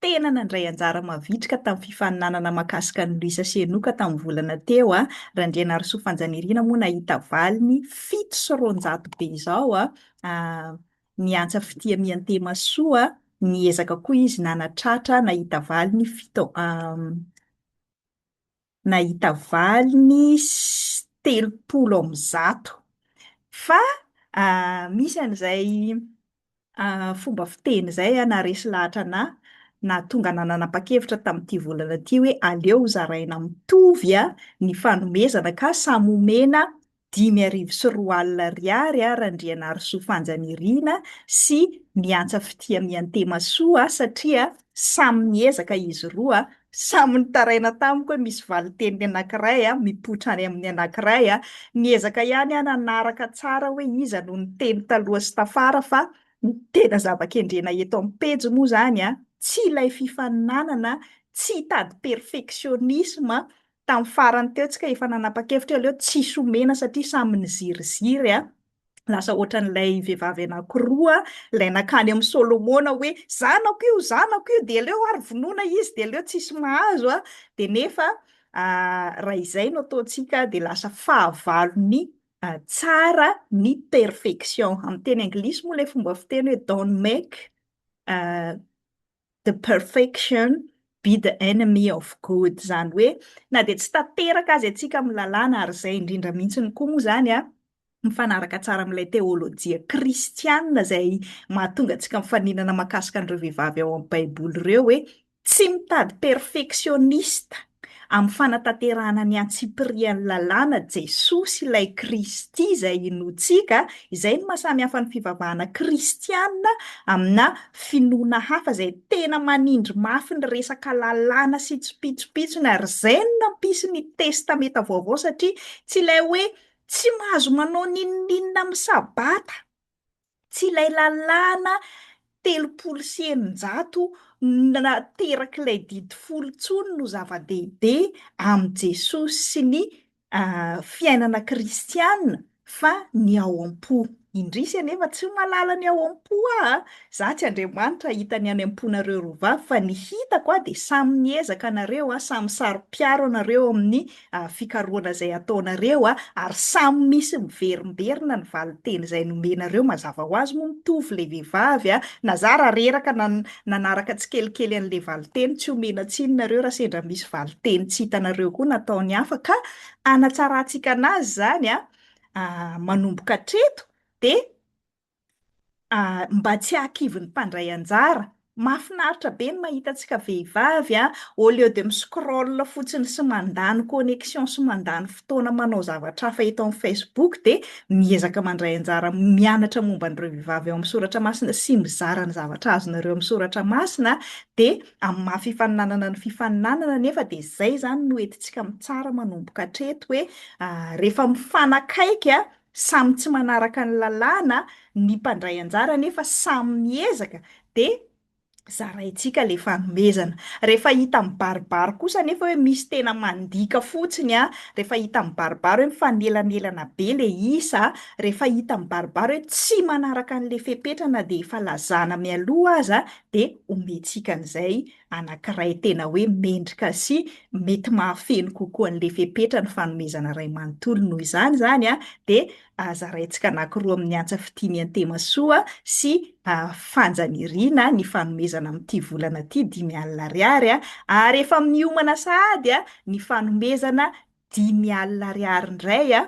tena nandray anjara mavitrika tamin'ny fifaninanana mahakasika an'i Luisa sy Enoka tamin'ny volana teo a, Randrianarisoa Fanjanirina moa nahita valiny fito sy roanjato be izao a, ny Antsa Fitia Miantemasoa niezaka koa izy nanatratra nahita valiny fito nahita valiny telopolo amin'ny zato. Fa misy an'izay fomba fiteny izay naharesy lahatra anà nahatonga anà nanapa-kevitra tamin'ity volana ity hoe aleo zaraina mitovy ny fanomezana ka samy omena dimy arivo sy roa alina ariary a Randrianarisoa Fanjanirina sy ny Antsa Fitia Miantemasoa a satria samy niezaka izy roa a, samy nitaraina tamiko hoe misy valinteny ny anankiray a, mipoitra any amin'ny anankiray a, niezaka ihany aho nanaraka tsara hoe iza no niteny taloha sy tafara fa ny tena zava-kendrena eto amin'ny pejy moa izany a tsy ilay fifaninanana, tsy hitady perfectionnisme Tamin'ny farany teo tsika efa nanapa-kevitra hoe aleo tsisy omena satria samy niziriziry a! Lasa ohatran'ilay vehivavy anankiroa ilay nankany amin'i Solomona hoe zanako io, zanako io, dia aleo ary vonoina izy dia aleo tsisy mahazo a! Dia nefa raha izay no ataontsika dia lasa fahavalon'ny tsara ny perfection. Amin'ny teny anglisy moa ilay fomba fiteny hoe don't make The perfection be the enemy of good, izany hoe na dia tsy tanteraka aza isika amin'ny lalàna, ary izay indrindra mihitsy no koa moa izany an, mifanaraka tsara amin'ilay teolojia kristiana izay mahatonga antsika mifaninana mahakasika an'ireo vehivavy ao amin'ny Baiboly ireo hoe tsy mitady perfeksionista, Amin'ny fanatanterahana ny antsipirian'ny lalàna, Jesosy, ilay Kristy izay inoantsika, izay no mahasamihafa ny fivavahana kristiana amina finoana hafa izay tena manindry mafy ny resaka lalàna sy tsopitsopitsony, ary izay no nampisy ny Testamenta Vaovao, satria tsy ilay hoe tsy mahazo manao n'inon'inona amin'ny Sabata. Tsy ilay lalàna telopolo sy eninjato naterak'ilay didy folo intsony no zava-dehibe amin'i Jesosy sy ny fiainana kristiana fa ny ao am-po. Indrisy anefa tsy mahalala ny ao am-po aho a! Izaho tsy Andriamanitra hahita ny any am-ponareo roa vavy fa ny hitako dia samy miezaka nareo, samy saro-piaro anareo amin'ny fikarohana izay ataonareo ary samy misy miverimberina ny valinteny izay nomenareo mazava ho azy moa mitovy ilay vehivavy na za raha reraka na nanaraka tsikelikely an'ilay valinteny tsy omena tsiny nareo raha sendra misy valinteny tsy hitanareo koa nataony hafa ka anatsarantsika anazy izany manomboka hatreto dia mba tsy hahakivin'ny mpandray anjara. Mahafinaritra be ny mahita antsika vehivavy an, au lieu de mi-scroll fotsiny sy mandany connexion sy mandany fotoana manao zavatra hafa eto amin'ny Facebook dia miezaka mandray anjara mianatra momba an'ireo vehivavy ao amin'ny soratra masina sy mizara ny zavatra azonareo amin'ny soratra masina dia amin'ny maha fifaninanana ny fifaninanana anefa dia izay izany no entintsika mitsara manomboka hatreto hoe rehefa mifanakaiky an, Samy tsy manaraka ny lalàna ny mpandray anjara nefa samy miezaka dia zaraintsika le fanomezana. Rehefa hita mibaribary kosa nefa hoe misy tena mandika fotsiny a, rehefa hita mibaribary hoe mifanelanelana be le isa, rehefa hita mibaribary hoe tsy manaraka an'le fepetra na dia efa lazana mialoha aza dia omentsika an'izay anankiray tena hoe mendrika sy mety mahafeno kokoa an'ilay fepetra ny fanomezana iray manontolo noho izany izany a, dia zaraintsika anankiroa amin'ny antsa fitia miantemasoa sy fanjaniriana ny fanomezana amin'ity volana ity dimy alina ariary a, ary efa miomana sahady a ny fanomezana dimy alina ariary indray a,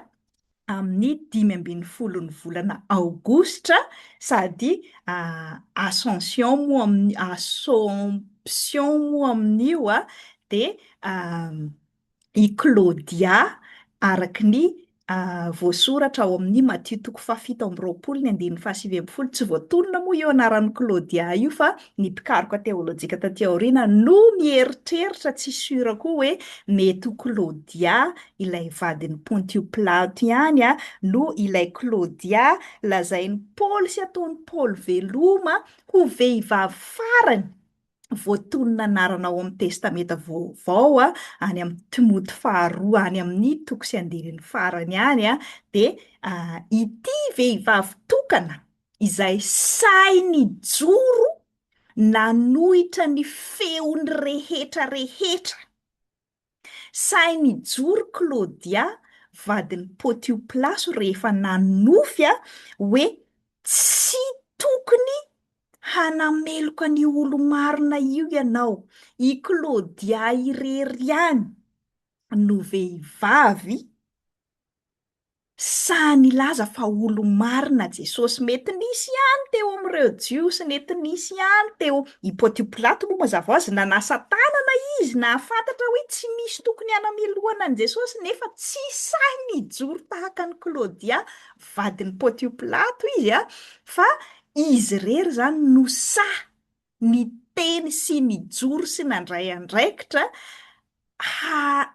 amin'ny dimy ambin'ny folon'ny volana aogositra sady ascension moa amin'ny assomption moa amin'io a dia i Claudia araka ny voasoratra ao amin'ny Matio toko fahafito amby roapolo ny andininy fahasivy ambin'ny folo. Tsy voatonona moa io anaran'i Claudia io fa ny mpikaroka teolojika taty aoriana no mieritreritra tsy sura koa hoe mety ho Claudia ilay vadin'i Pontio Pilato ihany no ilay Klaodia lazain'i Paoly sy ataon'i Paoly veloma ho vehivavy farany voatonona anarana ao amin'ny Testamenta Vaovao any amin'ny Timoty faharoa any amin'ny toko sy andininy farany any, dia ity vehivavy tokana izay sahy nijoro nanohitra ny feon'ny rehetra rehetra. Sahy nijoro Claudia vadin'i Potioplaso rehefa nanonofy hoe tsy tokony hanameloka ny olo-marina io ianao. I Claudia irery ihany no vehivavy. Sahy nilaza fa olo-marina Jesosy. Mety nisy ihany teo amin'ireo Jiosy, nety nisy ihany teo i Pontio Pilato moa mazava ho azy nanasa tanana izy nahafantatra hoe tsy misy tokony hanamelohana an'i Jesosy nefa tsy sahy nijoro tahaka an'i Klaodia vadin'i Pontio Pilato izy a, fa izy irery izany no sahy niteny sy nijoro sy nandray andraikitra ha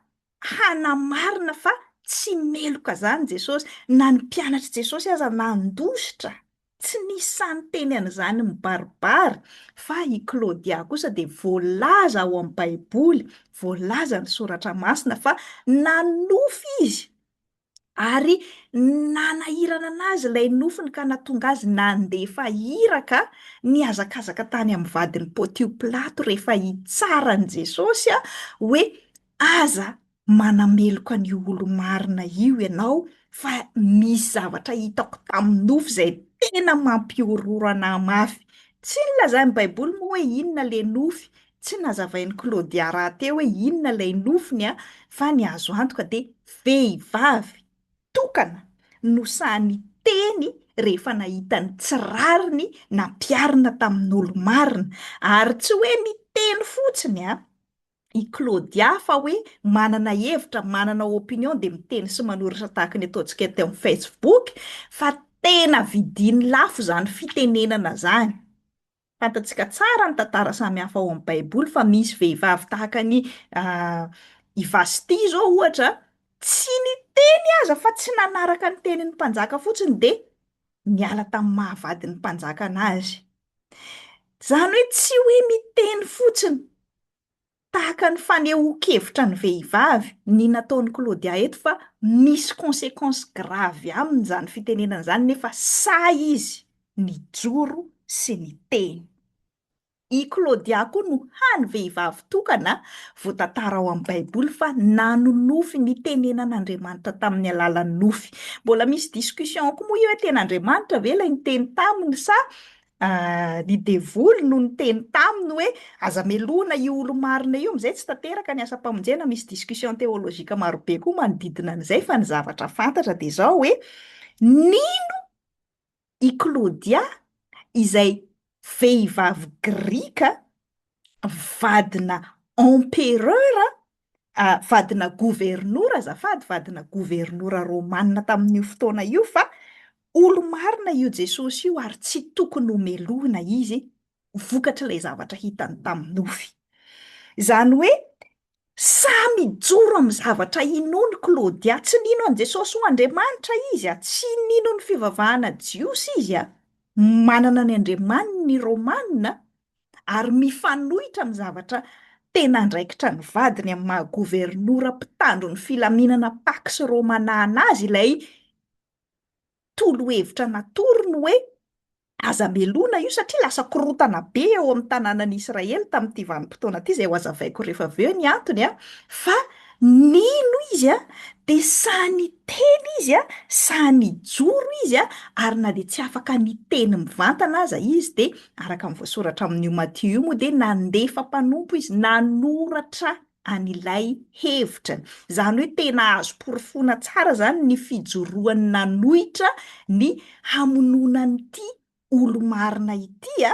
hanamarina fa tsy meloka izany Jesosy, na ny mpianatr'i Jesosy aza nandositra, tsy nisy sahy niteny an'izany mibaribary, fa i Claudia kosa dia voalaza ao amin'ny Baiboly, voalazan'ny Soratra Masina fa nanonofy izy Ary nanahirana an'azy ilay nofiny ka nahatonga azy nandefa iraka nihazakazaka tany amin'ny vadin'i Pontio Pilato rehefa hitsara an'i Jesosy hoe, Aza manameloka an'io olo-marina io ianao, fa misy zavatra hitako tamin'ny nofo izay tena mampihorohoro anà mafy. Tsy nilazain'ny Baiboly moa hoe inona ilay nofy Tsy nazavain'i Claudia rahateo hoe inona ilay nofiny an, fa ny azo antoka dia vehivavy tokana no sahy niteny rehefa nahita ny tsy rariny nampiharina tamin'olo-marina. Ary tsy hoe niteny fotsiny an, i Claudia fa hoe manana hevitra, manana opinion dia miteny sy manoratra tahaka ny ataontsika teo amin'ny Facebook, fa tena vidiny lafo izany fitenenana izany. Fantatsika tsara ny tantara samihafa ao amin'ny Baiboly fa misy vehivavy tahaka an'i i Vasty izao ohatra, tsy niteny aza fa tsy nanaraka ny tenin'ny mpanjaka fotsiny dia niala tamin'ny maha vadin'ny mpanjaka anazy. Izany hoe tsy hoe miteny fotsiny Tahaka ny fanehoan-kevitra ny vehivavy ny nataon'i Claudia eto fa misy consequence grave aminy izany fitenenana izany nefa sahy izy nijoro sy niteny. I Claudia koa no hany vehivavy tokana voatantara ao amin'ny Baiboly fa nanonofy ny tenenan'Andriamanitra tamin'ny alalan'ny nofy. Mbola misy discussion koa moa io hoe tena Andriamanitra ve ilay niteny taminy sa Ny devoly no niteny taminy hoe, Aza melohina io olo-marina io, amin'izay tsy tanteraka ny asam-pamonjena. Misy discussion théologique maro be koa manodidina an'izay fa ny zavatra fantatra dia izao hoe, nino i Klaodia izay vehivavy grika vadina empereur ah, vadina governora azafady, vadina governora romanina tamin'io fotoana io fa olo-marina io Jesosy io ary tsy tokony homelohina izy vokatr'ilay zavatra hitany tamin'ny nofy. Izany hoe samy ijoro amin'ny zavatra inony Claudia, tsy nino an'i Jesosy ho Andriamanitra izy, a, tsy nino ny fivavahana jiosy izy, a, manana ny andriamaniny ny Romanina, ary mifanohitra amin'ny zavatra tena andraikitra ny vadiny amin'ny maha governora mpitandro ny filaminana Pax Romana anazy ilay tolo-hevitra natorony hoe aza melona io satria lasa korotana be eo amin'ny tanànan'i Israely tamin'ity vanim-potoana ity, izay hohazavaiko rehefa avy eo ny antony an, fa nino izy an, dia sahy niteny izy an, sahy nijoro izy an, ary na dia tsy afaka niteny mivantana aza izy dia Araka ny voasoratra amin'io Matio io moa dia nandefa mpanompo izy nanoratra an'ilay hevitrany. Izany hoe tena azo porofoina tsara izany ny fijoroany nanohitra ny hamonoana an'ity olo-marina ity.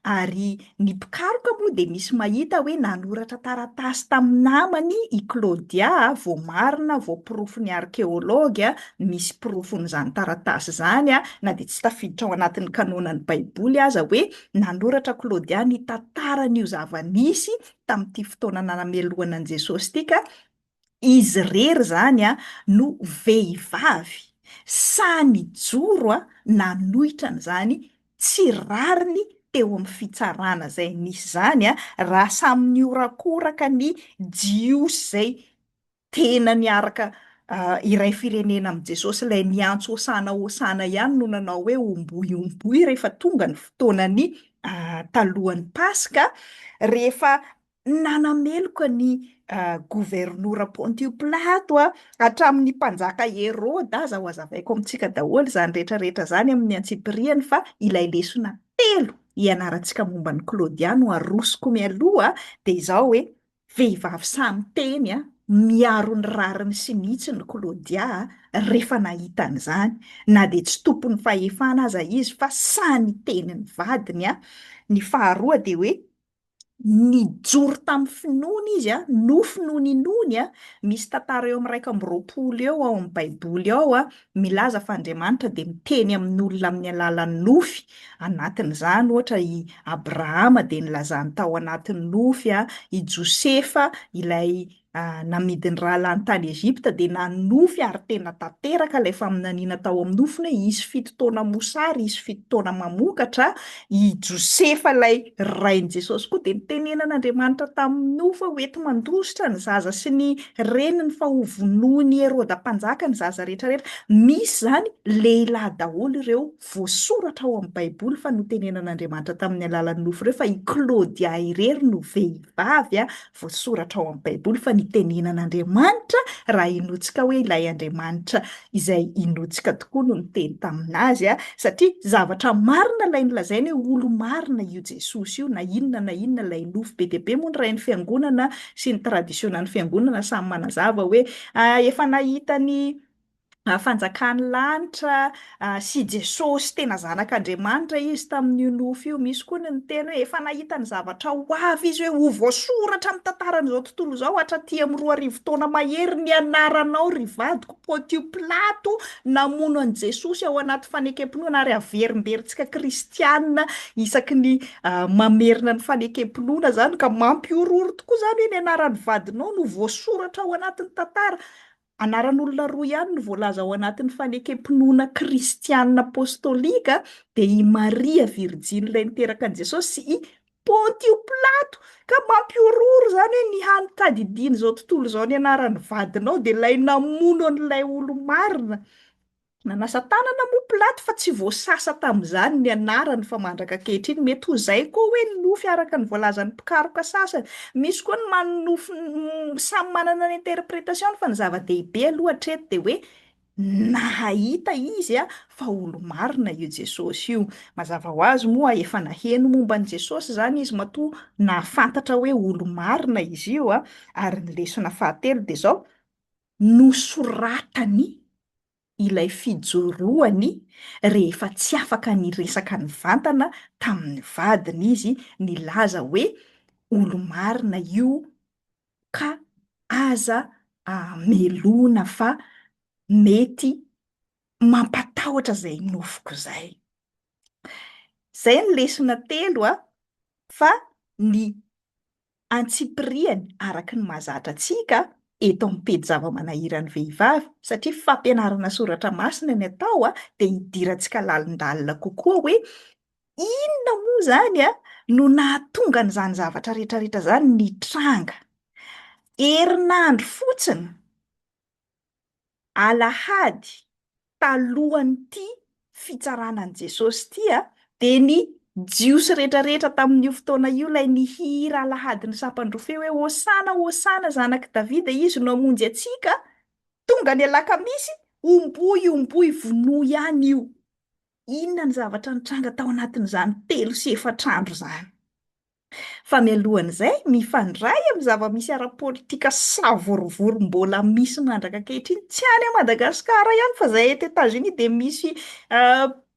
Ary ny mpikaroka moa dia misy mahita hoe nanoratra taratasy tamin'ny namany i Claudia, voamarina, voaporofo ny arkeology, Misy porofon'izany taratasy izany, na dia tsy tafiditra ao anatin'ny kanônan'ny Baiboly aza, hoe nanoratra Klôdia ny tantaran'io zava-nisy tamin'ity fotoana nanamelohana an'i Jesôsy ity, ka izy irery izany no vehivavy sahy nijoro nanohitra an'izany tsy rariny teo amin'ny fitsarana izay nisy izany, raha samy nihorakoraka ny Jiosy izay tena niaraka iray firenena amin'i Jesosy, ilay niantso hosana hosana ihany no nanao hoe omboy omboy rehefa tonga ny fotoanan'ny talohan'ny Paska, rehefa nanameloka ny governora Pontio Pilato hatramin'ny mpanjaka Heroda aza, hohazavaiko amintsika daholo izany rehetra rehetra izany amin'ny antsipiriany fa ilay lesona telo hianarantsika momba an'i Claudia no arosoko mialoha dia izao hoe Vehivavy samy teny a! Miaro ny rariny sy ny hitsiny Claudia a! rehefa nahita an'izany, na dia tsy tompon'ny fahefana aza izy fa sahy niteny ny vadiny a! Ny faharoa dia hoe nijoro tamin'ny finoana izy a! Nofy no ninoany a! Misy tantara eo amin'ny iraika amby roapolo eo ao amin'ny baiboly ao a! milaza fa Andriamanitra dia miteny amin'olona amin'ny alalan'ny nofy, anatin'izany ohatra i Abrahama dia nilazany tao anatin'ny nofy, i Josefa ilay namidy ny rahalahiny tany Egypta dia nanofy ary tena tanteraka ilay faminaniana tao amin'ny nofiny hoe hisy fito taona mosary, hisy fito taona mamokatra, I Josefa ilay rain'i Jesosy koa dia nitenenan'Andriamanitra tamin'ny nofo hoe hoenti-mandositra ny zaza sy ny reniny fa hovonoin'i Heroda mpanjaka ny zaza rehetra rehetra. Misy izany lehilahy daholo ireo voasoratra ao amin'ny Baiboly fa notenenan'Andriamanitra tamin'ny alalan'ny nofo ireo fa i Claudia irery no vehivavy Voasoratra ao amin'ny Baiboly fa nitenena an'Andriamanitra raha inoantsika hoe ilay Andriamanitra izay inoantsika tokoa no niteny tamin'azy, satria zavatra marina ilay nolazainy hoe olo-marina io Jesosy io, na inona na inona ilay nofy. Be dia be moa ny Rain'ny Fiangonana sy ny tradisiônan'ny Fiangonana samy manazava hoe efa nahita ny fanjakan'ny lanitra sy i Jesosy tena zanak'Andriamanitra izy tamin'io nofy io. Misy koa ny niteny hoe efa nahita ny zavatra ho avy izy hoe ho voasoratra amin'ny tantaran'izao tontolo izao hatraty amin'ny roa arivo taona mahery ny anaranao ry vadiko. Pontio Pilato namono an'i Jesosy ao anaty fanekem-pinoana ary averimberintsika kristiana isaky ny mamerina ny fanekem-pinoana izany ka mampihorohoro tokoa izany hoe ny anaran'ny vadinao no voasoratra ao anatin'ny tantara. Anaran'olona roa ihany no voalaza ao anatin'ny fanekem-pinoana kristiana apostolika, dia i Maria Virjiny ilay niteraka an'i Jesosy sy i Pontio Pilato. Ka mampihorohoro izany hoe ny hany tadidian'izao tontolo izao ny anaran'ny vadinao dia ilay namono an'ilay olo-marina. Nanasa tanana moa Pilato fa tsy voasasa tamin'izany ny anarany fa mandraka ankehitriny mety ho izay koa hoe ny nofy araka ny voalazan'ny mpikaroka sasany. Misy koa ny manana nofy samy manana ny interpretation-ny fa ny zava-dehibe aloha hatreto dia hoe nahahita izy fa olo-marina io Jesosy io. Mazava ho azy moa efa naheno momba an'i Jesosy izany izy matoa nahafantatra hoe olo-marina izy io ary ny lesona fahatelo dia izao, nosoratany ilay fijoroany rehefa tsy afaka niresaka nivantana tamin'ny vadiny izy nilaza hoe olo-marina io ka aza amelona fa mety mampatahotra izay nofiko izay. Izay ny lesona telo a! Fa ny antsipiriany araka ny mahazatra antsika eto amin'ny pejy zava-manahiran'ny vehivavy satria fampianarana soratra masina ny atao dia hidirantsika lalindalina kokoa hoe inona moa izany no nahatonga an'izany zavatra rehetrarehetra izany nitranga. Herinandro fotsiny alahady talohan'ity fitsarana an'i Jesosy ity dia ny Jiosy rehetrarehetra tamin'io fotoana io ilay nihira alahady ny sampan-drofia hoe, Hosana, Hosana, Zanak'i Davida, Izy no hamonjy antsika, tonga ny alakamisy, omboy, omboy, vonoy ihany io. Inona ny zavatra nitranga tao anatin'izany telo sy efatra andro izany? Fa mialohan'izay, mifandray amin'ny zava-misy ara-politika savorovoro mbola misy mandraka ankehitriny, tsy any Madagasikara ihany fa izay eto Etats-Unis dia misy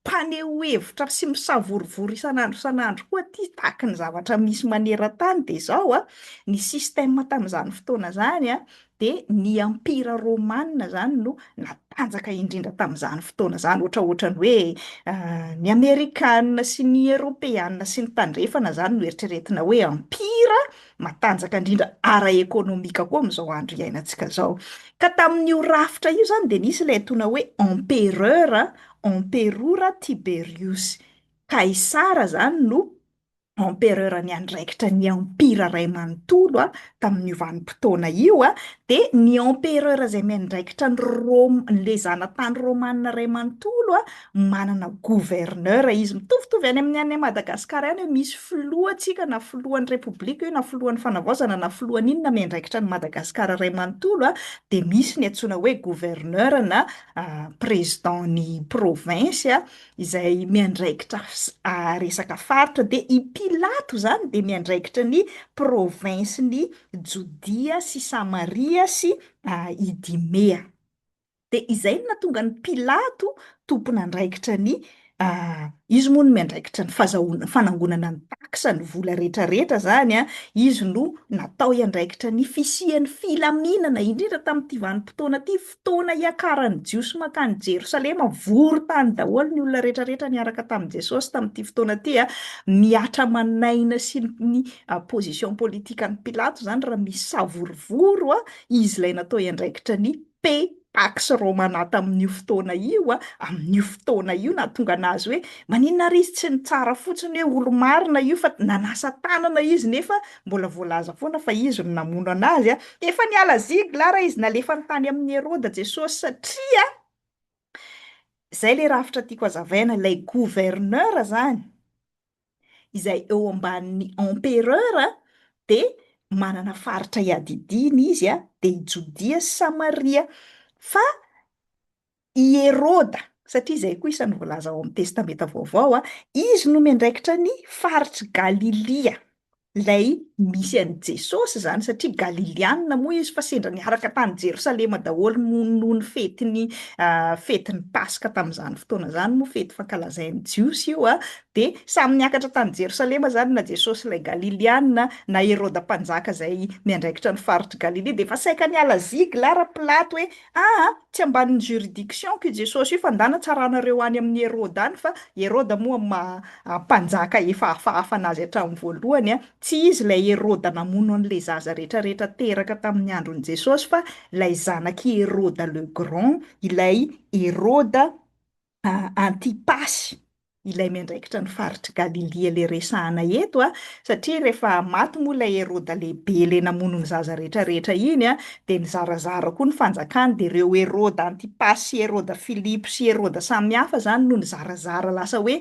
mpaneho hevitra sy misavorovoro isan'andro isan'andro koa aty tahaka ny zavatra misy maneran-tany dia izao, ny système tamin'izany fotoana izany dia ny ampira romanina izany no natanjaka indrindra tamin'izany fotoana izany, ohatra ohatran'ny hoe ny amerikana sy ny eropeana sy ny tandrefana izany no eritreretina hoe ampira matanjaka indrindra ara-ekonomika koa amin'izao andro iainantsika izao. Ka tamin'io rafitra io izany dia nisy ilay antsoina hoe empereur, emperora Tiberius. Kaisara izany no empereur niandraikitra ny empire ray manontolo tamin'io vanim-potoana io dia ny empereur izay miandraikitra ny Roma, ilay zanatany romana ray manontolo manana gouverneur izy. Mitovitovy any amin'ny any Madagasikara ihany hoe misy filohantsika na filohan'ny repoblika io na filohan'ny fanavaozana na filohan'ny inona miandraikitra an'i Madagasikara ray manontolo dia misy ny antsoina hoe gouverneur na président-n'ny province izay miandraikitra resaka faritra, dia i Pilato izany dia miandraikitra ny provinsin'i Jodia sy Samaria sy Idimea. Dia izay no nahatonga an'i Pilato tompon'andraikitra ny, izy moa no miandraikitra ny fazahoana, fanangonana ny taxe, ny vola rehetrarehetra izany an, izy no natao hiandraikitra ny fisian'ny filaminana, indrindra tamin'ity vanim-potoana ity, Fotoana hiakaran'ny Jiosy mankany Jerosalema, vory tany daholo ny olona rehetrarehetra niaraka tamin'i Jesosy tamin'ity fotoana ity. Mihatra aman'aina sy ny position politikan'i Pilato izany raha misy savorovoro izy ilay natao hiandraikitra ny Pax Romana tamin'io fotoana io, amin'io fotoana io nahatonga an'azy hoe, maninona ary izy tsy nitsara fotsiny hoe olo-marina io fa nanasa tanana izy nefa Mbola voalaza foana fa izy no namono an'azy a! Efa niala ziglara izy nalefany tany amin'i Heroda Jesosy satria, zay le rafitra tiako azavaina, ilay gouverneur zany izay eo ambanin'ny empereur de manana faritra iadidiany izy a, de i Jodia sy Samaria, fa I Heroda, satria izay koa isan'ny voalaza ao amin'ny Testamenta Vaovao, izy no miandraikitra ny faritr'i Galilia, ilay misy an'i Jesosy izany, satria Galilianina moa izy fa sendra niaraka tany Jerosalema daholo noho ny fetin'ny fetin'ny Paska tamin'izany fotoana izany, moa fety fankalazain'ny Jiosy io, dia samy niakatra tany Jerosalema izany na Jesosy ilay Galilianina na Heroda Mpanjaka izay miandraikitra ny faritr'i Galilia, dia efa saika niala zigla ara-pilato hoe Aa! tsy ambanin'ny juridiction-ko i Jesosy io fa ndà natsaranareo any amin'i Heroda any fa Heroda moa ma mpanjaka efa hafahafa anazy hatramin'ny voalohany a! tsy izy ilay Heroda namono an'ilay zaza retraretra teraka tamin'ny andron'i Jesosy fa ilay zanak'i Heroda le grand ilay Heroda Antipasy, ilay miandraikitra ny faritr'i Galilia ilay resahana eto, satria rehefa maty moa ilay Heroda lehibe ilay namono ny zaza rehetra rehetra iny, dia nizarazara koa ny fanjakany, dia ireo Heroda Antipasy sy Heroda Filipo sy Heroda samihafa izany no nizarazara lasa hoe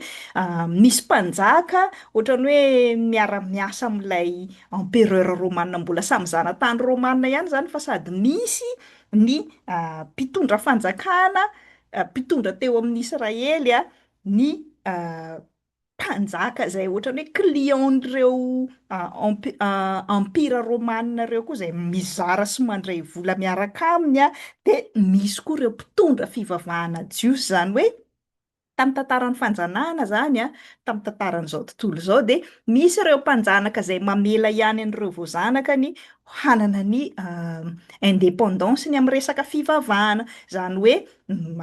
nisy mpanjaka ohatran'ny hoe miara-miasa amin'ilay empereur romana mbola samy zanatany romana ihany izany fa sady misy ny mpitondra fanjakana mpitondra teo amin'ny Israely ny mpanjaka izay ohatran'ny hoe client-n'ireo empire romana ireo koa izay mizara sy mandray vola miaraka aminy, dia nisy koa ireo mpitondra fivavahana jiosy, izany hoe tamin'ny tantaran'ny fanjanahana izany, tamin'ny tantaran'izao tontolo izao dia misy ireo mpanjanaka izay mamela ihany an'ireo voazanakany hanana ny indépendance-ny amin'ny resaka fivavahana, izany hoe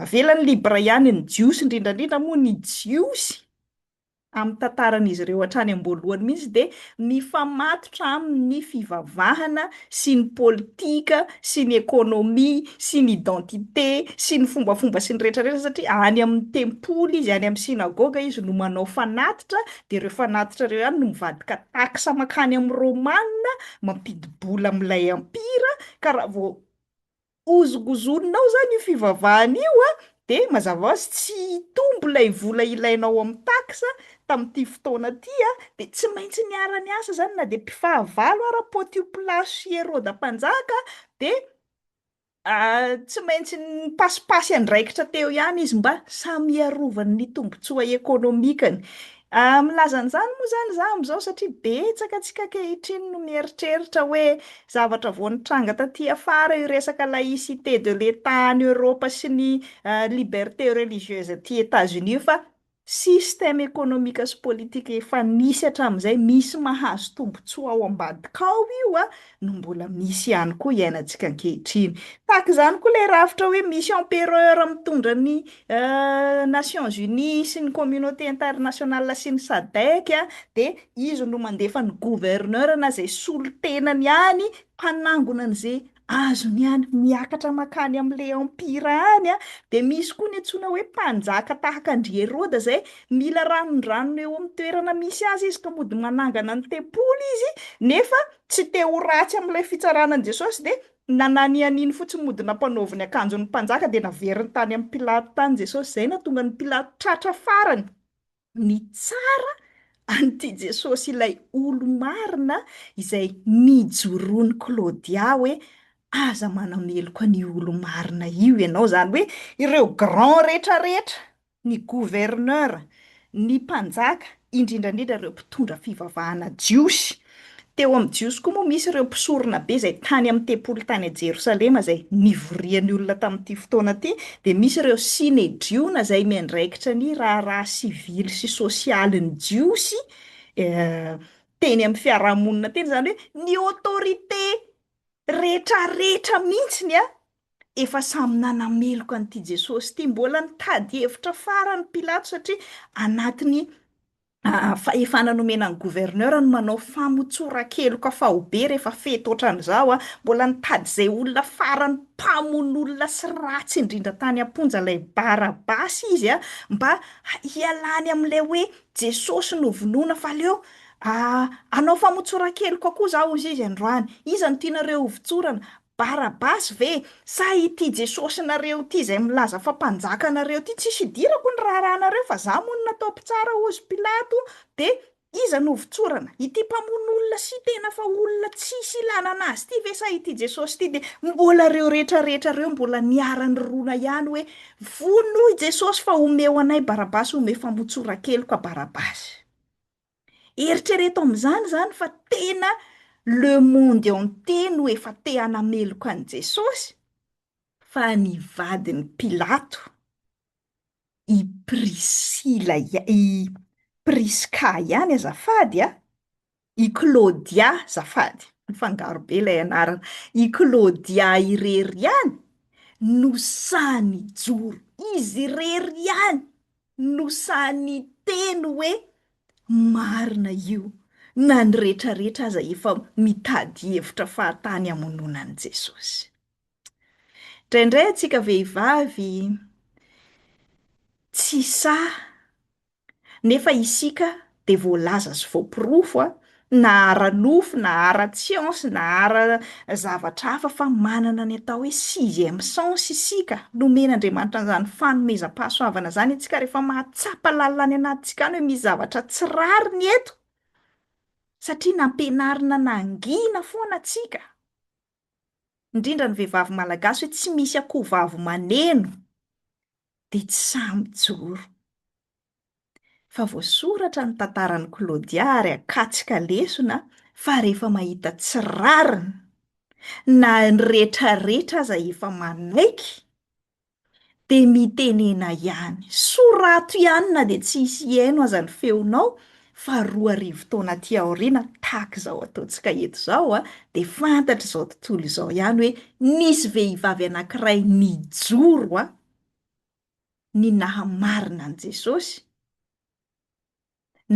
avela ny libre ihany ny jiosy, indrindra indrindra moa ny jiosy amin'ny tantaran'izy ireo hatrany am-boalohany mihitsy dia mifamatotra amin'ny fivavahana sy ny politika sy ny économie sy ny identité sy ny fombafomba sy ny rehetra rehetra satria any amin'ny tempoly izy, any amin'ny synagoga izy no manao fanatitra dia ireo fanatitra ireo ihany no mivadika taxe mankany amin'ny Romana mampidi-bola amin'ilay empire, ka raha vao hozongozonina ao izany io fivavahana io a, dia mazava ho azy tsy hitombo ilay vola ilainao amin'ny taxe tamin'ity fotoana ity a, dia tsy maintsy niara-niasa izany na dia mpifahavalo ara Pôtio Pilasy sy Herôda Mpanjaka, dia Tsy maintsy nipasipasy andraikitra teo ihany izy mba samy hiarovany ny tombontsoa ekonomikany. Milaza an'izany moa izany izaho amin'izao satria betsaka antsika ankehitriny no mieritreritra hoe zavatra vao nitranga taty afara io resaka laïcité de l'Etat any Eoropa sy ny liberté religieuse aty Etats-Unis io fa Système économique sy politique efa nisy hatramin'izay, misy mahazo tombontsoa ao ambadika ao io a, no mbola misy ihany koa iainantsika ankehitriny. Tahaka izany koa ilay rafitra hoe misy empereur mitondra ny Nations Unies sy ny communauté internationale sy ny Sadec a, dia izy no mandefa ny gouverneur na izay solontenany any mpanangona an'izay azony any miakatra makany amin'ilay empira any an, dia misy koa ny antsoina hoe mpanjaka tahaka an-dry Heroda izay mila ranondranony eo amin'ny toerana misy azy izy ka mody manangana ny tempoly izy nefa tsy te ho ratsy amin'ilay fitsarana an'i Jesosy dia nananianiny fotsiny mody nampanaovy ny akanjon'ny mpanjaka dia naveriny tany amin'i Pilato tany Jesosy izay nahatonga an'i Pilato tratra farany Nitsara an'ity Jesosy ilay olo-marina izay nijoroan'i Claudia hoe, Aza manameloka ny olo-marina io ianao. Izany hoe ireo grand rehetra rehetra, ny gouverneur, ny mpanjaka, indrindra indrindra ireo mpitondra fivavahana jiosy. Teo amin'ny Jiosy koa moa misy ireo mpisorona be izay tany amin'ny tempoly tany Jerosalema izay nivorian'ny olona tamin'ity fotoana ity, dia misy ireo Synedriona izay miandraikitra ny raharaha sivily sy sosialin'ny Jiosy teny amin'ny fiarahamonina teny, izany hoe ny autorité rehetrarehetra mihitsiny an! Efa samy nanameloka an'ity Jesosy ity, mbola nitady hevitra farany Pilato satria anatin'ny fahefana nomena ny gouverneur no manao famotsoran-keloka faobe rehefa fety otran'izao a! mbola nitady izay olona farany mpamono olona sy ratsy indrindra tany am-ponja ilay Barabasy izy a! mba hialany amin'ilay hoe Jesosy novonoina fa aleo hanao famotsoran-keloka koa za hozy izy androany! iza no tianareo hovotsorana? Barabasy ve sa ity Jesosinareo ity izay milaza fa mpanjaka anareo ity? Tsisy idirako ny raharahanareo fa za moa no natao mpitsara ozy Pilato de iza no votsorana? Ity mpamono olona sy tena fa olona tsisy ilanana azy ity ve sa ity Jesosy ity? De mbola reo rehetra rehetra reo mbola niara-nirona ihany hoe vono i Jesosy fa omeo anay Barabasy omeo fa motsorakeloka Barabasy. Eritrereto amin'izany izany fa tena le monde entier no efa te hanameloka an'i Jesosy fa ny vadin'i Pilato, i Prisila, i Prisca ihany azafady a, i Claudia azafady, mifangaro be ilay anarana, i Claudia irery ihany no sahy nijoro, izy irery ihany no sahy niteny hoe marina io na ny retraretra aza efa mitady hevitra fahatany hamonoana an'i Jesosy. Indraindray antsika vehivavy tsy sahy nefa isika dia voalaza sy voaporofo a, na ara-nofo na ara-tsiansa na ara zavatra hafa fa manana ny atao hoe sixième sens isika, nomen'Andriamanitra an'izany fanomezam-pahasoavana izany isika rehefa mahatsapa lalina any anatintsika any hoe misy zavatra tsy rariny eto, satria nampianarina nangina foana tsika, indrindra ny vehivavy malagasy hoe tsy misy akoho vavy maneno dia tsy sahy mijoro. fa voasoratra ny tantaran'i Claudia ary akatsy ka lesona fa rehefa mahita tsy rariny na ny retraretra aza efa manaiky dia mitenena ihany, sorato ihany na dia tsy hisy hihaino aza ny feonao fa roa arivo taona aty aoriana tahaka izao ataontsika eto izao dia fantatr'izao tontolo izao ihany hoe nisy vehivavy anankiray nijoro ny nahamarina an'i Jesosy,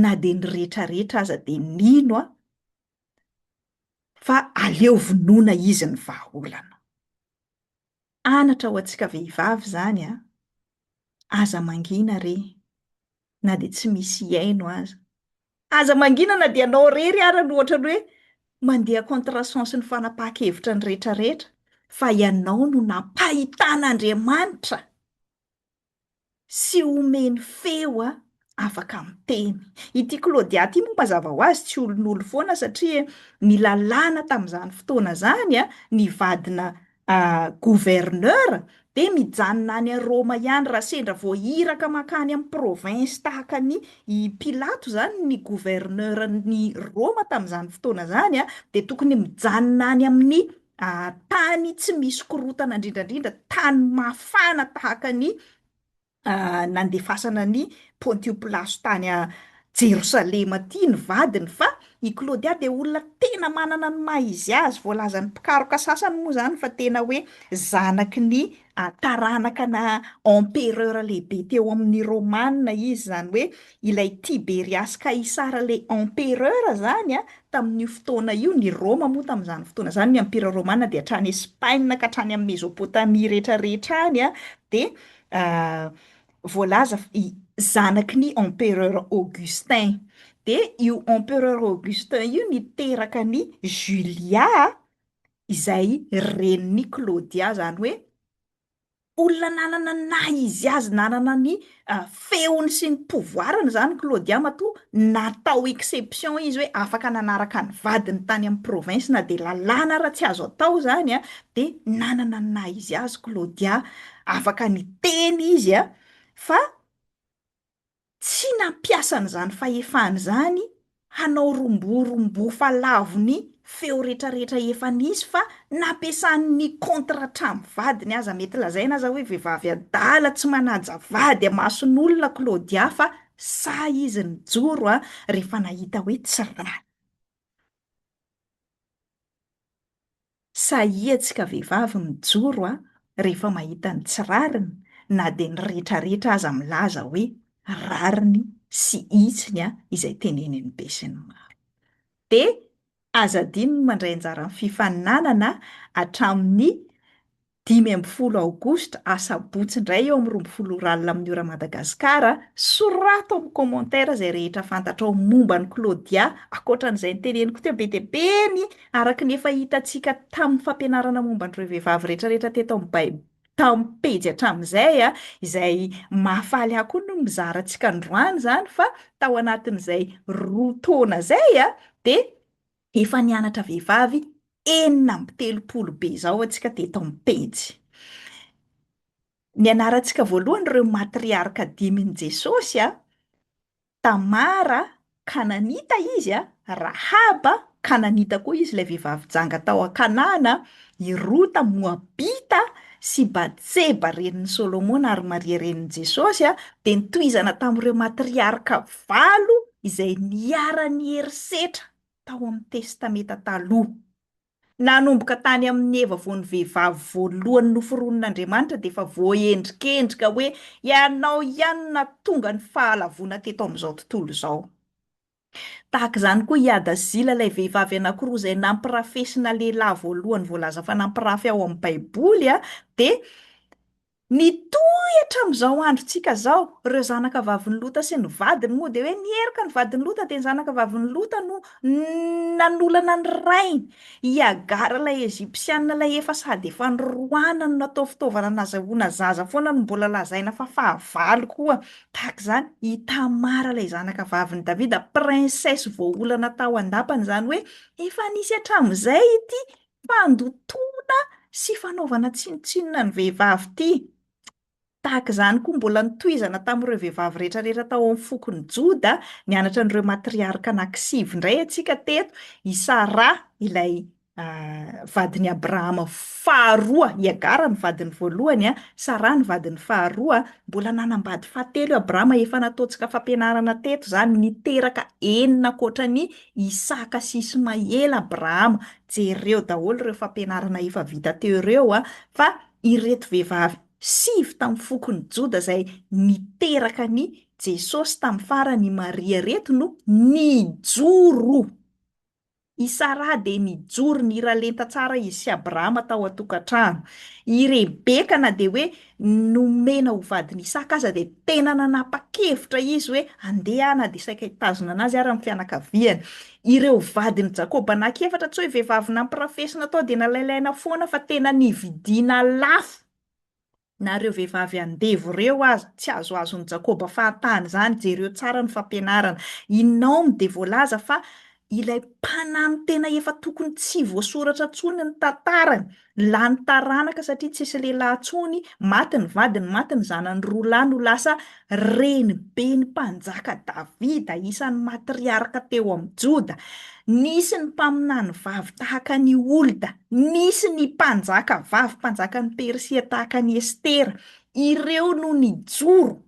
na dia ny rehetrarehetra aza dia nino aho fa aleo vonoina izy ny vahaolana. Anatra ho antsika vehivavy izany an! Aza mangina re! na dia tsy misy hihaino aza. Aza mangina na dia ianao irery ara no ohatran'ny hoe mandeha contre-sens ny fanapahan-kevitra ny rehetrarehetra, fa ianao no nampahitan'Andriamanitra sy omeny feo afaka miteny. Ity Claudia ity moa mazava ho azy tsy olon'olo foana satria nilalana tamin'izany fotoana izany ny vadina Gouverneur dia mijanona any Roma ihany raha sendra vao iraka mankany amin'ny province tahaka an'i i Pilato izany ny gouverneur-n'i Roma tamin'izany fotoana izany dia tokony mijanona any amin'ny tany tsy misy korotana indrindrandrindra, tany mafana tahaka an'i nandefasana an'i Pontio Pilato tany Jerosalema aty ny vadiny fa i Klaodia dia olona tena manana ny maha izy azy, voalazan'ny mpikaroka sasany moa izany fa tena hoe zanaky ny taranakana empereur lehibe teo amin'ny Romana izy, izany hoe ilay Tiberiasy Kaisara ilay empereur izany a, tamin'io fotoana io, ny Roma moa tamin'izany fotoana izany, ny Empira Romana dia hatrany Espaina ka hatrany amin'i Mezopotamia rehetrarehetra any a, dia voalaza zanaky ny empereur Augustin, de io empereur Augustin io niteraka an'i Julia izay renin'i Claudia, zany hoe olona nanana ny naha izy azy, nanana ny feony sy ny pouvoir-ny zany Claudia matoa natao exception izy hoe afaka nanaraka ny vadiny tany amin'ny province na de lalàna ara tsy azo atao zany an, de nanana ny naha izy azy Claudia Afaka niteny izy a, fa tsy nampiasa an'izany fahefany izany hanao romborombofa lavo ny feo retraretra efa nisy fa nampiasany ny contre hatramin'ny vadiny aza mety lazaina aza hoe vehivavy adala tsy manaja vady amason'olona Claudia fa sahy izy nijoro a rehefa nahita hoe tsy raha Sahia tsika vehivavy mijoro a rehefa mahita ny tsy rariny na dia ny retraretra aza milaza hoe rariny sy hitsiny a izay tenenin'ny be sy ny maro. Dia aza adino ny mandray anjara amin'ny fifaninanana hatramin'ny Dimy ambin'ny folo aogositra, asabotsy indray eo amin'ny roa ambin'ny folo ora alina amin'ny ora Madagascar, sorato amin'ny commentaire izay rehetra fantatrao momba an'i Claudia ankoatra an'izay noteneniko teo be dia be ny araka ny efa hitantsika tamin'ny fampianarana momba an'ireo vehivavy retraretra teto amin'ny Baib tamin'ny pejy hatramin'izay a, izay mahafaly ahy koa no mizara antsika androany izany fa tao anatin'izay roa taona izay a dia Efa nianatra vehivavy enina amby telopolo be izao antsika teto amin'ny pejy. Nianarantsika voalohany ireo matriarka dimin'i Jesosy a, Tamara, Kananita izy a, Rahaba, Kananita koa izy ilay vehivavy janga tao an-Kanana, i Rota Moabita sy Batseba renin'i Solomona ary Maria renin'i Jesosy a, dia nitohizana tamin'ireo matriarka valo izay niharan'ny herisetra tao amin'ny Testamenta Taloha. Nanomboka tany amin'i Eva vao ny vehivavy voalohany noforonin'Andriamanitra dia efa voaendrikendrika hoe ianao ihany no nahatonga ny fahalavoana teto amin'izao tontolo izao. Tahaka izany koa i Hadazila ilay vehivavy anankiroa izay nampirafesina lehilahy voalohany voalaza fa nampirafy ao amin'ny Baiboly dia Nitohy hatramin'izao androntsika izao. Ireo zanaka vavin'i Lota sy ny vadiny moa dia hoe niheroka ny vadin'i Lota dia ny zanaka vavin'i Lota no nanolana ny rainy. I Hagara ilay Ejipsianina ilay efa sady efa noroahana no natao fitaovana nazahoana zaza foana no mbola lazaina fa fahavalo koa. Tahaka izany i Tamara ilay zanaka vavin'i Davida, princesse voaolana tao an-dapany izany hoe efa nisy hatramin'izay ity Fandotoana sy fanaovana tsinontsinona ny vehivavy ity. Tahaka izany koa mbola notohizana tamin'ireo vehivavy rehetrarehetra tao amin'ny fokon'i Joda nianatra an'ireo matriarka anankisivy indray antsika teto, i Sara ilay vadin'i Abrahama faharoa, i Agara ny vadiny voalohany, Sara ny vadiny faharoa. Mbola nanambady fahatelo i Abrahama, efa nataontsika fampianarana teto izany, niteraka enina ankoatra an'i Isaka sy Ismaela Abrahama, Jereo daholo ireo fampianarana efa vita teo ireo a! Fa ireto vehivavy sivy tamin'ny fokon'i Joda izay niteraka an'i Jesosy tamin'ny farany i Maria ireto no nijoro! I Saraha dia nijoro, niralenta tsara izy sy Abrahama tao an-tokantrano. I Rebeka na dia hoe nomena ho vadin'i Isaka aza dia tena nanapa-kevitra izy hoe handeha na dia saika hitazona anazy ara ny fianakaviany. Ireo vadin'i Jakoba anankiefatra tsy hoe vehivavy nampirafesina tao dia nalailaina foana fa tena nividiana lafo. Na ireo vehivavy andevo ireo aza, tsy azoazon'i Jakoba fahatany izany. Jereo tsara ny fampianarana. I Naomy dia voalaza fa Ilay mpanampy tena efa tokony tsy voasoratra intsony ny tantarany, lany taranaka satria tsisy lehilahy intsony, maty ny vadiny, maty ny zanany roa lahy no lasa reniben'ny mpanjaka Davida, isan'ny matriarka teo amin'ny Joda. Nisy ny mpaminany vavy tahaka an'i Holda, nisy ny mpanjaka vavy mpanjakan'i Persia tahaka an'i Estera. Ireo no nijoro.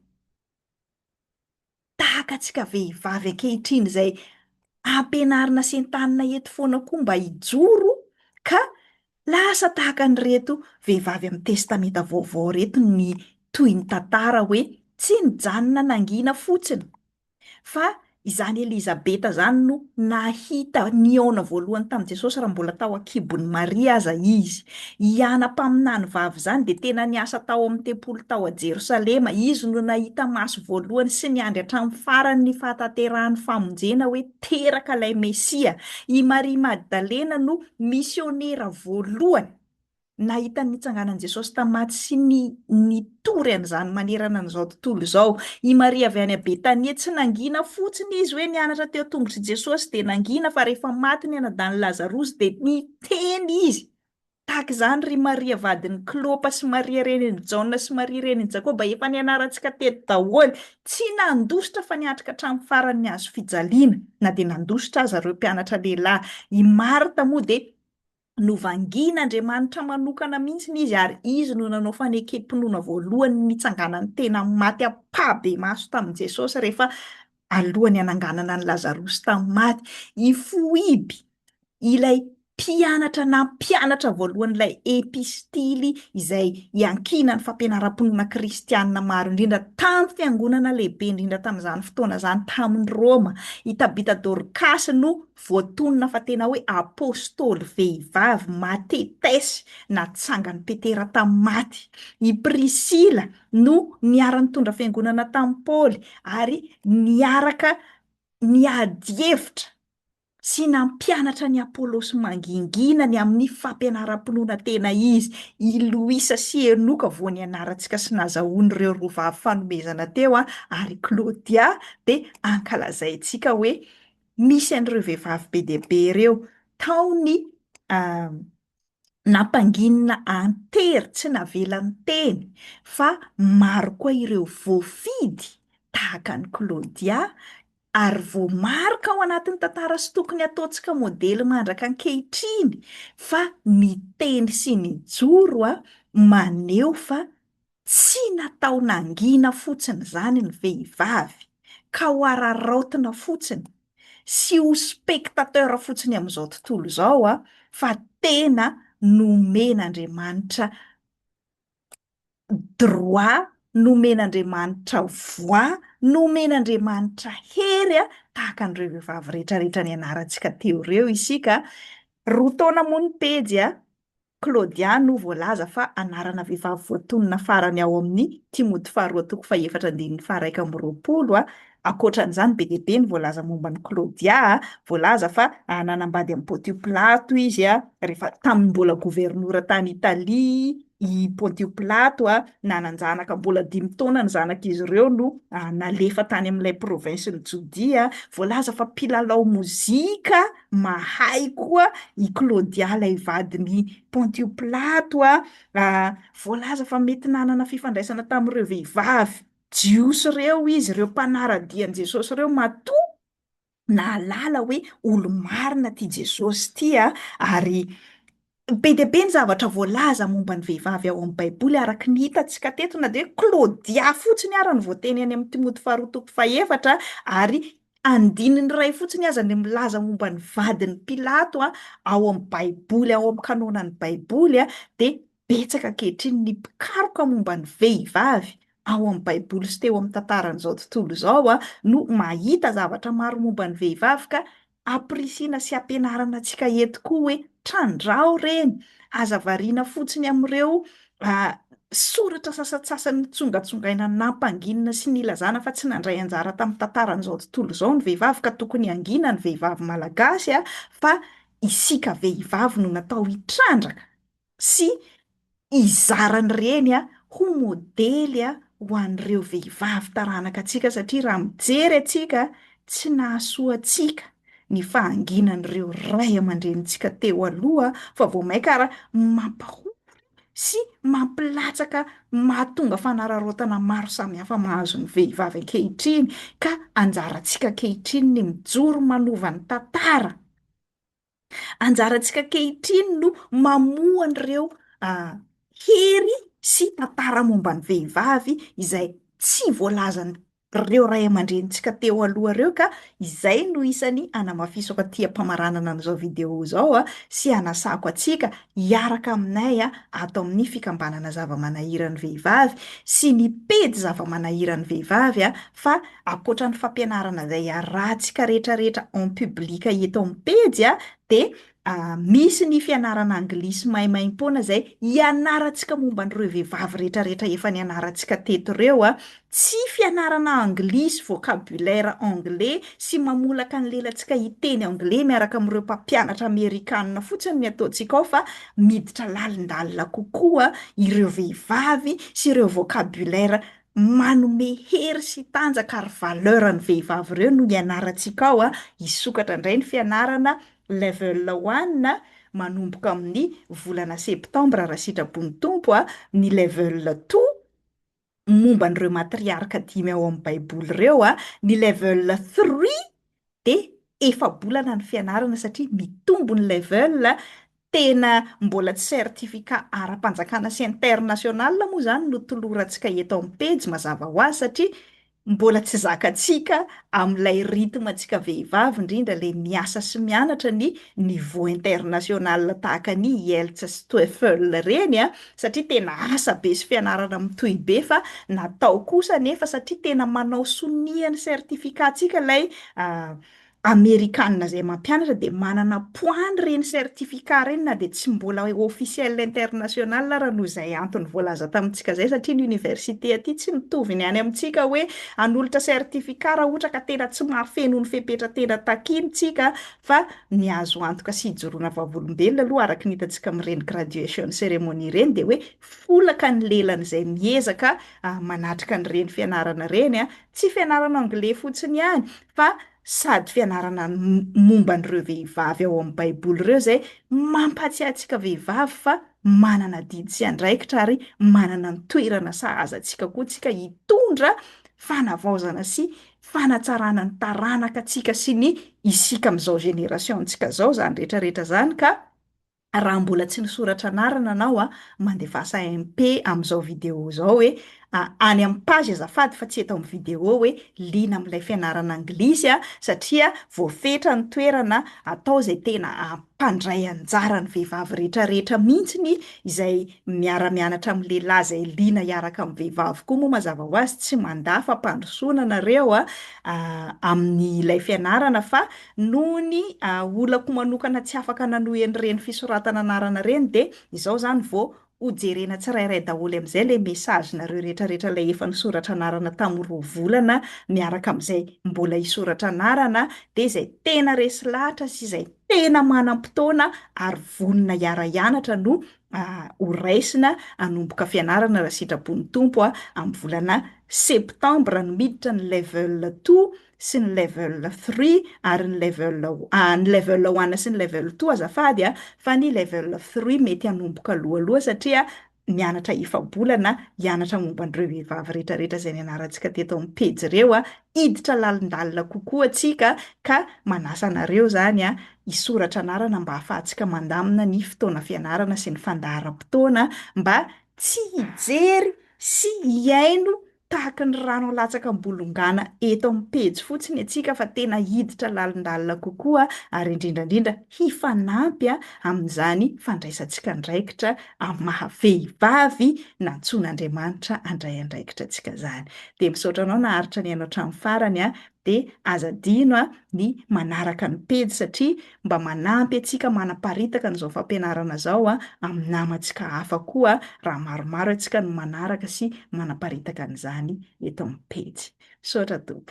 tahaka antsika vehivavy ankehitriny izay ampianarina sy entanina eto foana koa mba hijoro ka lasa tahaka an'ireto vehivavy amin'ny Testamenta Vaovao ireto ny toy ny tantara hoe tsy nijanona nangina fotsiny fa izany Elizabeta izany no nahita nihaona voalohany tamin'i Jesosy raha mbola tao an-kibon'i Maria aza izy. I Ana mpaminany vavy izany dia tena niasa tao amin'ny tempoly tao Jerosalema. Izy no nahita maso voalohany sy niandry hatramin'ny farany ny fahatanterahan'ny famonjena hoe teraka ilay Mesia. I Maria Magdalena no misionera voalohany nahita ny nitsanganan'i Jesosy tamin'ny maty sy ny nitory an'izany manerana an'izao tontolo izao. I Maria avy any Betania, tsy nangina fotsiny izy hoe nianatra teo an-tongotr'i Jesosy dia nangina fa rehefa maty ny anadahin'i Lazarosy dia Teny izy, Tahaka izany ry Maria vadin'i Klopa sy Maria renin'i Jaona sy Maria renin'i Jakoba efa nianarantsika teto daholo. Tsy nandositra fa niatrika hatramin'ny farany ny hazo fijaliana, na dia nandositra aza ireo mpianatra lehilahy. I Marta moa dia novangian'Andriamanitra manokana mihitsy izy ary izy no nanao fanekem-pinoana voalohany nitsanganan'ny tena maty ampahibemaso tamin'i Jesosy rehefa Alohan'ny hananganana an'i Lazarosy tamin'ny maty, i Foiby, ilay mpianatra nampianatra voalohan'ilay epistily izay iankinan'ny fampianaram-pinoana kristianina maro indrindra tamin'ny fiangonana lehibe indrindra tamin'izany fotoana izany tamin'i Roma, i Tabita Dorkasy no voatonona fa tena hoe apostoly vehivavy matetesy natsangan'i Petera tamin'ny maty. I Prisila. no niara-nitondra fiangonana tamin'i Paoly ary niaraka niady hevitra sy nampianatra an'i Apolosy mangingina ny amin'ny fampianaram-pinoana tena izy. I Loisa sy Enoka vao nianarantsika sy nazahoan'ireo roa vavy fanomezana teo ary i Klaodia dia ankalazaintsika hoe misy an'ireo vehivavy be dia be ireo tao ny nampanginina an-tery, tsy navela niteny fa maro koa ireo voafidy tahaka an'i Claudia ary voamaro ka ao anatin'ny tantara sy tokony ataontsika modely mandraka ankehitriny fa niteny sy nijoro maneho fa Tsy natao nangina fotsiny izany ny vehivavy ka ho araraotina fotsiny sy ho spectateur fotsiny amin'izao tontolo izao fa tena nomen'Andriamanitra droit, nomen'Andriamanitra voix, nomen'Andriamanitra hery tahaka an'ireo vehivavy rehetrarehetra nianarantsika teo ireo isika roa taona moa ny pejy a! Claudia no voalaza fa anarana vehivavy voatonona farany ao amin'ny Timoty Faharoa toko fahefatra andininy faharaika amby roapolo. Ankoatra an'izany, be dia be ny voalaza momba an'i Claudia. Voalaza fa nanambady an'i Pontio Pilato izy rehefa tamin'ny mbola governora tany Italia i Pontio Pilato. Nanan-janaka mbola dimy taona ny zanak'izy ireo no nalefa tany amin'ilay provinsin'i Jodia. Voalaza fa mpilalao mozika. Mahay koa i Claudia ilay vadin'i Pontio Pilato a! Voalaza fa mety nanana fifandraisana tamin'ireo vehivavy Jiosy ireo izy, ireo mpanara-dia an'i Jesosy ireo, matoa nahalala hoe olo-marina ity Jesosy ity, ary Be dia be ny zavatra voalaza momba ny vehivavy ao amin'ny Baiboly araka ny hitantsika teto, na dia hoe Klaodia fotsiny ara no voateny any amin'ny Timoty faharoa toko fahefatra, ary andininy iray fotsiny aza no milaza momba ny vadin'i Pilato ao amin'ny Baiboly, ao amin'ny kanônan'ny Baiboly, dia betsaka ankehitriny ny mpikaroka momba ny vehivavy ao amin'ny Baiboly sy teo amin'ny tantaran'izao tontolo izao no mahita zavatra maro momba ny vehivavy ka Ampirisihina sy ampianarana antsika eto koa hoe trandraho reny, aza variana fotsiny amin'ireo soratra sasantsasany nitsongatsongaina nampanginina sy nilazana fa tsy nandray anjara tamin'ny tantaran'izao tontolo izao ny vehivavy ka tokony hangina ny vehivavy malagasy fa isika vehivavy no natao hitrandraka sy hizara ny reny ho modely ho an'ireo vehivavy taranaka antsika satria raha mijery antsika tsy nahasoa antsika ny fahanginan'ireo ray aman-drenintsika teo aloha fa vao mainka ary mampahory sy mampilatsaka mahatonga fanararaotana maro samihafa mahazo ny vehivavy ankehitriny ka anjarantsika ankehitriny ny mijoro manova ny tantara Anjarantsika ankehitriny no mamoha an'ireo hery sy tantara momba ny vehivavy izay tsy voalazan'ireo ray aman-drenintsika teo aloha ireo ka izay no isan'ny hanamafisako aty am-pamaranana an'izao video izao sy hanasako antsika hiaraka aminay ato amin'ny fikambanana zava-manahiran'ny vehivavy sy ny pejy zava-manahiran'ny vehivavy fa ankoatra ny fampianarana izay arahantsika rehetrarehetra en public eto amin'ny pejy a, dia misy ny fianarana anglisy maimaim-poana izay ianarantsika momba an'ireo vehivavy rehetrarehetra efa nianarantsika teto ireo a, tsy fianarana anglisy, vocabulaire anglais sy mamolaka ny lelantsika hiteny anglais miaraka amin'ireo mpampianatra amerikana fotsiny ny ataontsika ao fa miditra lalindalina kokoa ireo vehivavy sy ireo vocabulaire manome hery sy tanjaka ary valeur ny vehivavy ireo no ianarantsika ao an, hisokatra indray ny fianarana level one manomboka amin'ny volana septembre raha sitrapon'ny Tompo an, ny level two momba an'ireo matriarka dimy ao amin'ny baiboly ireo an, ny level three dia efa-bolana ny fianarana satria mitombo ny level, tena mbola tsy certificat ara-panjakana sy international moa izany no tolorantsika eto amin'ny pejy mazava ho azy satria mbola tsy zakantsika amin'ilay rythme antsika vehivavy indrindra ilay miasa sy mianatra ny niveau international tahaka ny IELTS sy TOEFL ireny an, satria tena asa be sy fianarana mitohy be fa natao kosa anefa satria tena manao sonia ny certificat-tsika ilay amerikana izay mampianatra dia manana poids ireny certificat ireny na dia tsy mbola officiel international ary noho izay antony voalaza tamintsika izay satria ny université aty tsy mitovy ny any amintsika hoe hanolotra certificat raha ohatra ka tena tsy mahafeno ny fepetra tena takintsika Fa ny azo antoka sy hijoroana vavolombelona aloha araka ny hitantsika amin'ireny graduation ceremony ireny dia hoe folaka ny lelan'izay miezaka manatrika an'ireny fianarana ireny. Tsy fianarana anglais fotsiny ihany fa sady fianarana momba an'ireo vehivavy ao amin'ny baiboly ireo izay mampahatsiahy antsika vehivavy fa manana adidy sy andraikitra ary manana ny toerana sahaza antsika koa isika hitondra fanavaozana sy fanatsarana ny taranaka antsika sy ny isika amin'izao génération antsika izao izany rehetra rehetra izany ka raha mbola tsy nisoratra anarana anao a mandevasa MP amin'izao vidéo izao hoe any amin'ny page azafady fa tsy eto amin'ny vidéo hoe liana amin'ilay fianarana anglisy a satria voafetra ny toerana atao izay tena mpandray anjara ny vehivavy rehetrarehetra mihitsiny izay miara-mianatra amin'ny lehilahy izay liana hiaraka amin'ny vehivavy koa moa mazava ho azy tsy mandà fampandrosoana nareo a amin'ny ilay fianarana fa noho ny olako manokana tsy afaka nanohy an'ireny fisoratana anarana ireny dia izao izany vao Ho jerena tsirairay daholo amin'izay ilay message nareo rehetra rehetra ilay efa nisoratra anarana tamin'ny roa volana miaraka amin'izay mbola hisoratra anarana dia izay tena resy lahatra sy izay tena manam-potoana ary vonona hiara-hianatra no ho raisina hanomboka fianarana raha sitrapon'ny Tompo amin'ny volana septembre no miditra ny level two sy ny level three ary ny level ah, ny level one sy ny level two azafady a, fa ny level three mety hanomboka alohaloha satria mianatra efa-bolana hianatra momba an'ireo vehivavy rehetrarehetra izay nianarantsika teto amin'ny pejy ireo a, hiditra lalindalina kokoa tsika ka manasa anareo izany a, hisoratra anarana mba hahafahantsika mandamina ny fotoana fianarana sy ny fandaharam-potoana mba tsy hijery sy hihaino Tahaka ny rano alatsaka am-bolongana eto amin'ny pejy fotsiny antsika fa tena hiditra lalindalina kokoa ary indrindra indrindra hifanampy amin'izany fandraisantsika andraikitra amin'ny maha vehivavy nantsoin'Andriamanitra handray andraikitra antsika izany. Dia misaotra anao naharitra nihaino hatramin'ny farany Dia aza adino a, ny manaraka ny pejy satria mba manampy antsika manaparitaka an'izao fampianarana izao a, amin'ny namantsika hafa koa raha maromaro antsika no manaraka sy manaparitaka an'izany eto amin'ny pejy. Misaotra Tompoko.